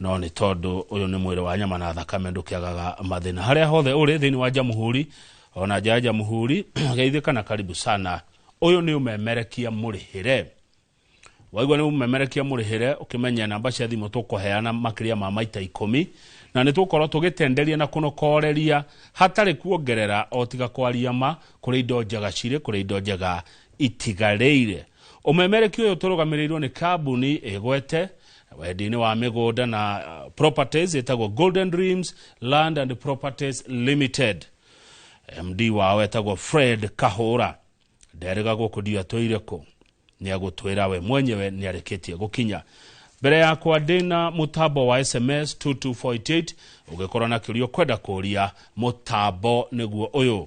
no nĩ tondũ ũyũ nĩ mwĩrĩ wa nyama na thakame ndũkĩagaga mathĩna harĩa hothe ũrĩ thĩinĩ wa jamhuri ona nja ya jamhuri geithĩka na karibu sana ũyũ nĩ ũmemerekia mũrĩhĩre waigua nĩ ũmemerekia mũrĩhĩre ũkĩmenye namba cia thimũ tũkũheana makĩria ma maita ikũmi na nĩ tũkorwo tũgĩtenderia na kũnokoreria hatarĩ kuongerera o tiga kwaria ma kũrĩ indo njega cirĩ kũrĩ indo njega itigarĩire. Ũmemereki ũyũ ũtũrũgamĩrĩirwo nĩ kambuni ĩgwete wendia-inĩ wa mĩgũnda na uh, properties ĩtagwo Golden Dreams Land and Properties Limited. MD wao etagwo Fred Kahũra nderĩga gũkũ ndio atwĩire kũ nĩ agũtwĩra we mwenyewe nĩ arĩkĩtie gũkinya mbere yakwa ndĩna mũtambo wa sms 22488 ũgĩkorwo na kĩũria ũkwenda kũria mũtambo nĩguo ũyũ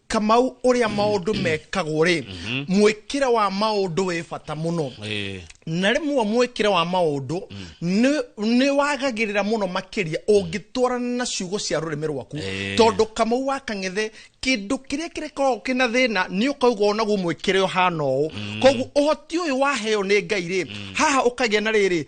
kamau uria maundu mekagwo ri mwikire wa maundu wi bata muno Eh, na rimwe mwikire wa maundu ni wagagirira muno makiria ungitwarana na ciugo cia rurimi rwaku Eh. tondu kamau wa kang'ethe kindu kiria kirikoragwo kina thina ni ukauga onaguo mwikire uhana uu koguo uhoti uyu waheo ni ngai ri haha ukagia na riri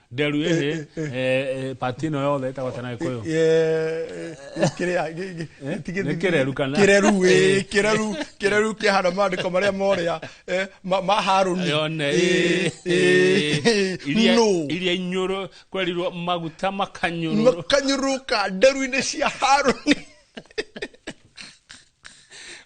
nderu ĩhĩ eh, eh, eh, pati ĩno yothe ĩtagwo tena gĩkũyũ kĩreru kana kĩreru kĩreru kĩreru kĩhana maandĩko marĩa morĩa ma harũni iria inyũrũ kwerirwo maguta makanyũrũka nderu-inĩ cia harũni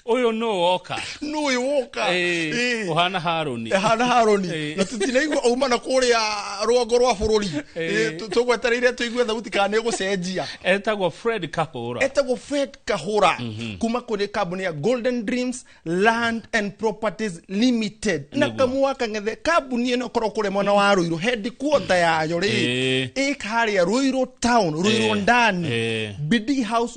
Ũyũ nũ woka? Nũ ũyũ woka? Ĩĩ, Ĩĩ. ũhana Harũni. hana haroni Ĩĩ. na tũtinaigua auma na kũrĩa rũgongo rwa bũrũri Ĩĩ. tũgwetereire tũigue thauti kana nĩ gũcenjia Etagwo Fred Kahũra. etagwo fred kahura kuma kũrĩ kambuni ya golden dreams land and properties limited na Nĩguo. kamũa kang'ethe kambuni ĩno ĩkorwo kũrĩa mwena wa rũirũ headquarter yayo rĩ Ĩĩ. ĩka harĩa rũirũ town rũirũ Ĩĩ. ndani Ĩĩ. bidii house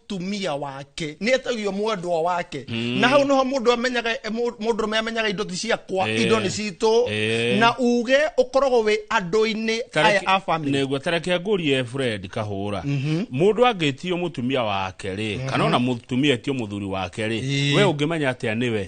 tumia wake nä etagio mwendwa wake mm. na hau nĩho mũndũ amenyaga mũndũ me amenyaga indo ti ciakwa Eh. indo nĩ citũ Eh. na uge ũkoragwo wĩ andũ-inĩ aya a family negua tareke ngũrie fred kahũra mũndũ angĩtio mũtumia wake rĩ kana ona mũtumia etio mũthuri wake rĩ Ĩĩ. we ũngĩmenya atĩa nĩwe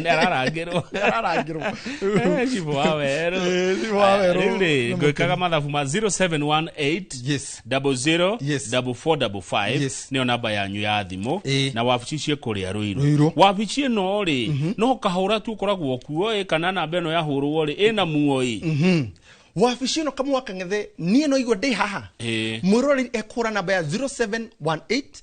nĩararangĩrwo ararangĩrwo Eh, Chibu wa werũ Eh, Chibu wa werũ. Eh, rĩu rĩ ngwĩkaga mathabu ma 0718 Yes. 00 Yes. 4455 Yes. nĩyo namba yanyu ya thimũ Eh. na wabici ciĩ kũrĩa Ruiru. rũirũ wabici ĩno rĩ no kahũra tu ũkoragwo kuo ĩ kana namba ĩno yahũrwo rĩ ĩna muo ĩ Mhm. wabici ĩno kamwaka ng'ethe niĩ no igua ndĩ haha Ĩĩ. mwĩroreri ekũra namba ya 0718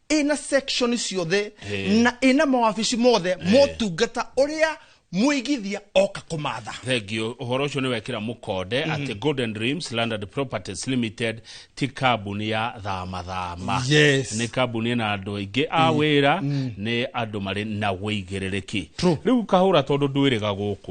ina section ciothe Eh. na ina mawabici mothe motungata uria muigithia oka kumatha thengio ũhoro ũcio nĩ wekĩra mũkonde atĩ golden dreams landed properties limited ti kambuni ya thamathama Yes. nĩ kambuni na andũ aingĩ a wĩra nĩ andũ marĩ na wĩigĩrĩrĩki True. rĩu kahũra tondũ ndwĩrĩga gũkũ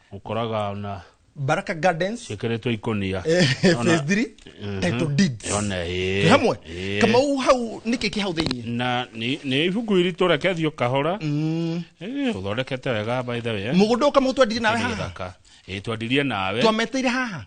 ũkoraga ona baraka gardens ciĩkĩrĩtwo ikũnia eh, Ona- phase 3 Mhm. title deeds Yone, ĩĩ, Twĩ hamwe ĩĩ. kamau hau nĩkĩ kĩ hau thĩinĩ na nĩ nĩ ibuku iritũ rekethio kahora Mm. Eh, ũthondekete wega by the way eh. mũgũnda ũka mũgũtwendirie nawe Nĩ haha gĩthaka. Ĩĩ, twendirie nawe twameteire haha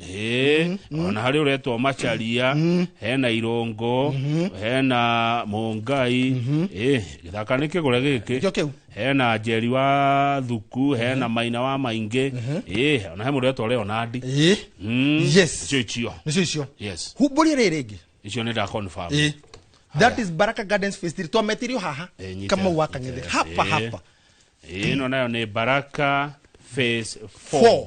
ĩ ona harĩ ũretwo macharia hena irũngũ hena mũngai ĩ gĩthaka nĩ kĩgũre gĩkĩ nĩkĩo kĩu hena njeri wa thuku hena maina wa maingĩ ĩ ona he mũndũ ũretwo leonandi Ĩ, Mm, Yes. icio icio nĩcio icio yes humbũria rĩrĩ rĩngĩ icio nĩ nda confirm Ĩ. that is baraka gardens phase three twametirio haha Ĩ, nyita- kama waka nyita- ng'ethe hapa Ĩ. hapa ĩno nayo nĩ baraka phase 4 Four.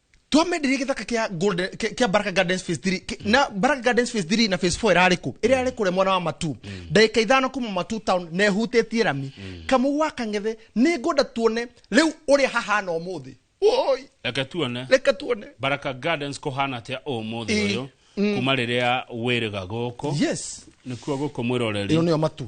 twamenderia githaka kia golden kia kia baraka gardens phase 3 ki- na baraka gardens phase 3 na phase 4 irarĩ kũ ĩrĩa yarĩ kũrĩa mwena wa matu ndagĩka ithano kuma matu town na ĩhutĩtie rami kamũgũ ga kang'ethe nĩ ngwenda tuone rĩu ũrĩa hahana ũmũthĩ woi reke tuone reka tuone baraka gardens kũhana atĩa ũmũthĩ Ĩ, ũyũ kuma rĩrĩa wĩrĩga gũkũ yes nĩkuo gũkũ mwĩroreri ĩno nĩyo matu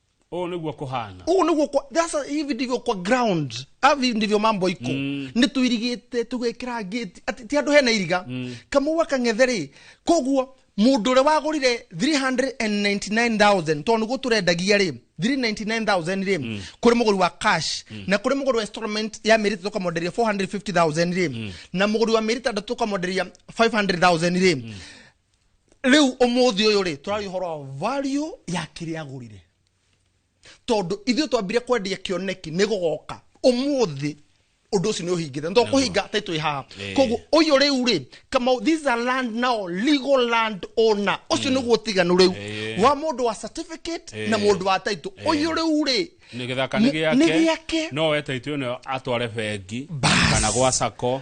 ũũ nĩguo kũhana ũguo nĩguo kwa- that's- hivi ndivyo kwa ground hivi ndivyo mambo iko mm. nĩ tũirigĩte tũgekĩra ngĩti Ati- ti andũ hena iriga mm. kamũa kang'ethe rĩ koguo mũndũ ũrĩa wagũrire 399000 tondũ nĩguo tũrendagia rĩ 399000 rĩ mm. kũrĩ mũgũri wa cash mm. na kũrĩ mũgũri wa installment ya mĩeri ĩtatũ tũkamonderia 450000 rĩ mm. na mũgũri wa mĩeri ĩtandatũ tũkamonderia 500000 rĩ mm rĩu ũmũthĩ ũyũ rĩ tũraria ũhoro wa value ya kĩrĩa agũrire tondũ ithuĩ twambire kwendia kĩoneki nĩ gũgoka ũmũthĩ ũndũ ũcio nĩ ũhingĩte nĩ kũhinga tai twĩ haha Eh. koguo ũyũ rĩu rĩ kamau these are land now legal land owner ũcio nĩguo ũtiganu rĩu Eh. wa mũndũ wa certificate Eh. na mũndũ wa taitũ ũyũ rĩu rĩ nä gä thaka Nĩ- nä nĩ gä gĩake. ake no wetaitå ä no atware bengi Bas. kana gwa sako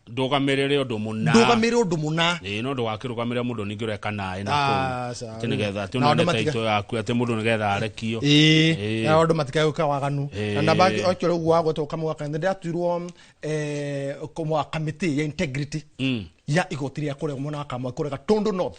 ndũgamĩrĩre ũndũ mũna ndũgamĩrĩre ũndũ mũna ĩĩ no ndũgakĩrũgamĩrĩra mũndũ ningĩ ũreka naĩ naku atĩ nĩgetha atĩ ũnone taito yaku atĩ mũndũ nĩgetha arekio ĩĩ na andũ matikae gwĩka waganu na namba okĩo rĩu wagwo to kamwe kana ndĩratuirwo eh, kamĩtĩ ya integrity mm. ya igoti rĩa kũrega mwena wa kamwe kũrega tondũ north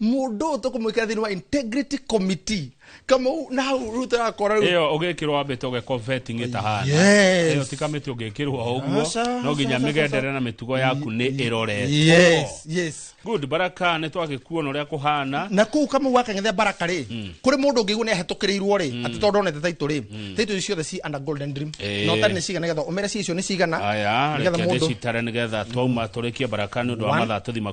mundu uyu tukumwikira thiini wa integrity committee kama u- na hau riu turakora riu iyo ugikirwo wambe toge vetting Yes. itahana iyo tikamiti ugikirwo uguo Aca, no nginya aca, aca, migendere na mitugo yaku ni iroretwo yes yes good baraka ni twagikuona uria kuhana na kuu kama wakang'ethea baraka rĩ kũrĩ mũndũ ũngĩigua nĩ ahetũkĩrĩirwo rĩ atĩ tondũ onete taitũ rĩ taitũ icio ciothe ci under golden dream Eh. na ũtarĩ nĩ cigana nĩgetha ũmere ci icio nĩ cigana aya nĩgetha reke mũndũ ndĩcitare nĩgetha twauma tũrĩkie baraka nĩ ũndũ wa One. mathaa tũthima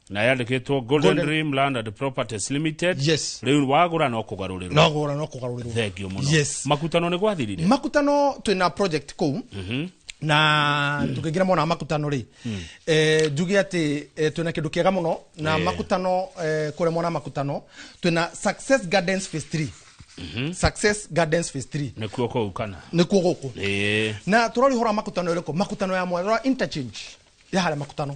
na yandĩkĩtwo golden Golden- dream land and properties limited yes rĩu wagũra no kũgarũrĩrwo no gora no kugarurwo thengio mũno Yes. makutano nĩ gwathirire makutano twina project kuu na tũkĩingĩra mona makutano rĩ eh, njuge atĩ eh, twĩna kĩndũ kĩega mũno na Eh. makutano eh, kũrĩa mona makutano twĩna success gardens phase 3 success gardens phase 3 nĩkuo kũu kana nĩkuo gũkũ Ĩĩ. na tũrorihora makutano ĩrĩkũ makutano ya mwarora interchange ya harĩa makutano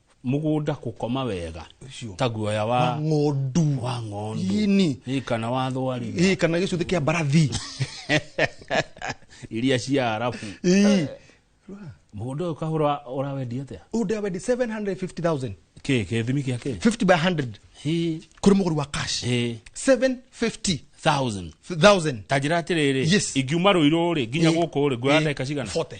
mũgũnda kũkoma wega Ũcio. ta guoya wa wa ng'ondu wa ng'ondu Ini. Ĩ, kana wa thwariga Ĩ, kana gĩcuthĩ kĩa mbarathi iria cia arabu Ĩ. mũgũnda ũyũ kahũra ũrawendia atĩa Ũyũ ndĩrawendi 750,000. kä kä thimi gä a kä 50 by 100 kũrĩ mũgũri wa cash 750,000. ta njä ra atä rä rä Yes. ingiuma rå irå rä nginya Ĩ. gå kå rä nguoya Ĩ. ndagä ka cigana 40.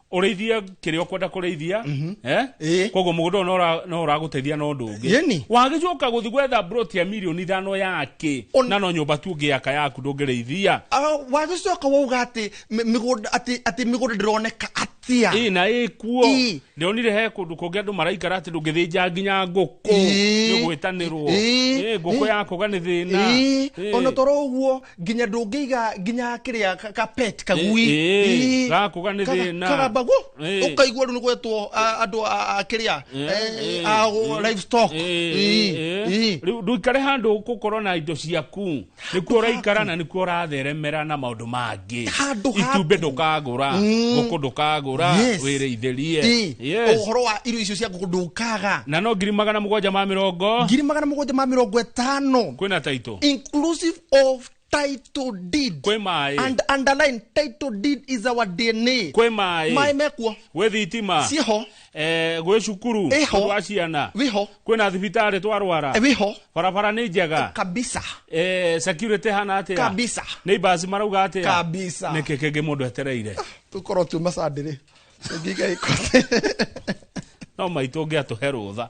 ũrĩithie kĩrĩa ũkwenda kũrĩithia mhm. eh? eh. koguo mũgũnda ũyũ no ũragũteithia na ũndũ ũngĩ wagĩcoka gũthi gwetha broti ya mirioni ithano yake na no nyũmba tu ũngĩaka yaku ndũngĩrĩithia ah, wagĩcoka wauga atĩ atĩ mĩgũnda ndĩroneka atia ĩ na ĩ kuo ndĩronire he kũndũ kũngĩ andũ maraikara atĩ ndũngĩthĩnja nginya ngũkũ nĩ gwĩtanĩrwo ngũkũ yakũga nĩ thĩna ona toro ũguo nginya ndũngĩiga nginya kĩrĩa ka- ka pet kagui Ĩ- ĩ, Ĩ, gakũ kanĩ kaga- thĩna. kagambagu Ĩ. ũkaigua rĩu nĩgwetwo andũ a- a kĩrĩa Ĩ, eh, ĩ, a ĩ. livestock Ĩ, Ĩ, ĩ. ĩ. Rĩu ndũikare handũ gũkorwo na indo ciaku nĩkuo ũraikara na nĩkuo ũratheremera na maũndũ mangĩ Handũ haku. itumbĩ ndũkagũra ngũkũ ndũkagũra Yes. wĩrĩithĩrie Ĩ, Yes. ũhoro wa irio icio cia ngũkũ ndũkaga na no ngiri magana mũgwanja ma mĩrongo ngiri magana mũgwanja ma mĩrongo ĩtano kwĩna taitũ inclusive of title deed kwĩ maĩ and underline title deed is our dna kwĩ maĩ maĩ mekuo gwĩ thitima ciĩho eh, gwĩ cukuru Ĩho. tondũ wa ciana wĩho kwĩ na thibitarĩ twarwara wĩho barabara nĩ njega kabisa Eh, security hana atĩa kabisa nĩ ibasi marauga atĩa Kabisa. nĩkĩ kĩngĩ mũndũ etereire tũkorwo tuma sandĩrĩ ngĩiga ĩkote no maitũ ũngĩatũhe rũtha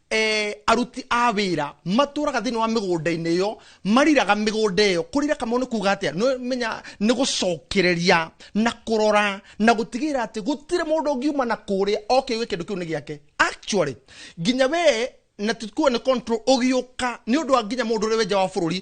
eh, aruti a wira matũraga thĩinĩ wa mĩgũnda-inĩ ĩyo mariraga mĩgũnda ĩyo kũrira kamau nĩ kuga atĩa nĩ menya nĩ gũcokereria na kũrora na gũtigĩrĩra atĩ gũtirĩ mũndũ ũngiuma na kũrĩa oke gwe kĩndũ kĩu nĩ gĩake actually nginya we na tikuwa nĩ control ũgĩũka nĩ ũndũ wa nginya mũndũ ũrĩa wenja wa bũrũri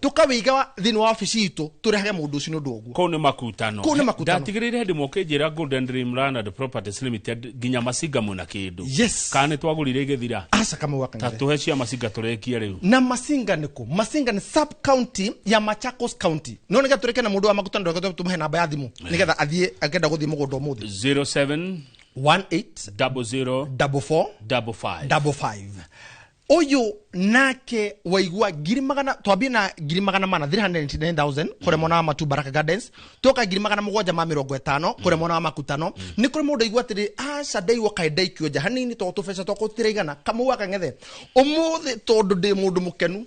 tũkawĩiga wa- thĩinĩ wa wabici itũ tũrehage mũndũ ũcio nĩ ũndũ wa ũguo kũu nĩ makutano Kũu nĩ makutano. ndatigĩrĩire hĩndĩ moke njĩra golden dream land and properties limited nginya macinga mwĩna kĩndũ Yes. kana nĩ twagũrire igĩthira aca kamau ta akang'ethe tũhe cia macinga tũrekie rĩu na masinga nĩ kũ masinga nĩ sub county ya machakos county no nĩgetha tũrĩke na mũndũ wa makutano ndũgetha tũmũhe namba ya thimũ nĩgetha athiĩ akenda gũthiĩ mũgũnda ũmũthĩ 07 18 double zero 44 double five double five uyu nake waigua ngiri magana twambie na ngiri magana mana 399000 kuri mwana wa matu baraka gardens toka ngiri magana mugwanja ma mirongo itano kuri mwana wa makutano ni kuri mundu aigua atiri aca ndaigua kae ndaikio nja hanini to tubeca twakwa tutiraigana kamau akang'ethe umuthi tondu ndi mundu mukenu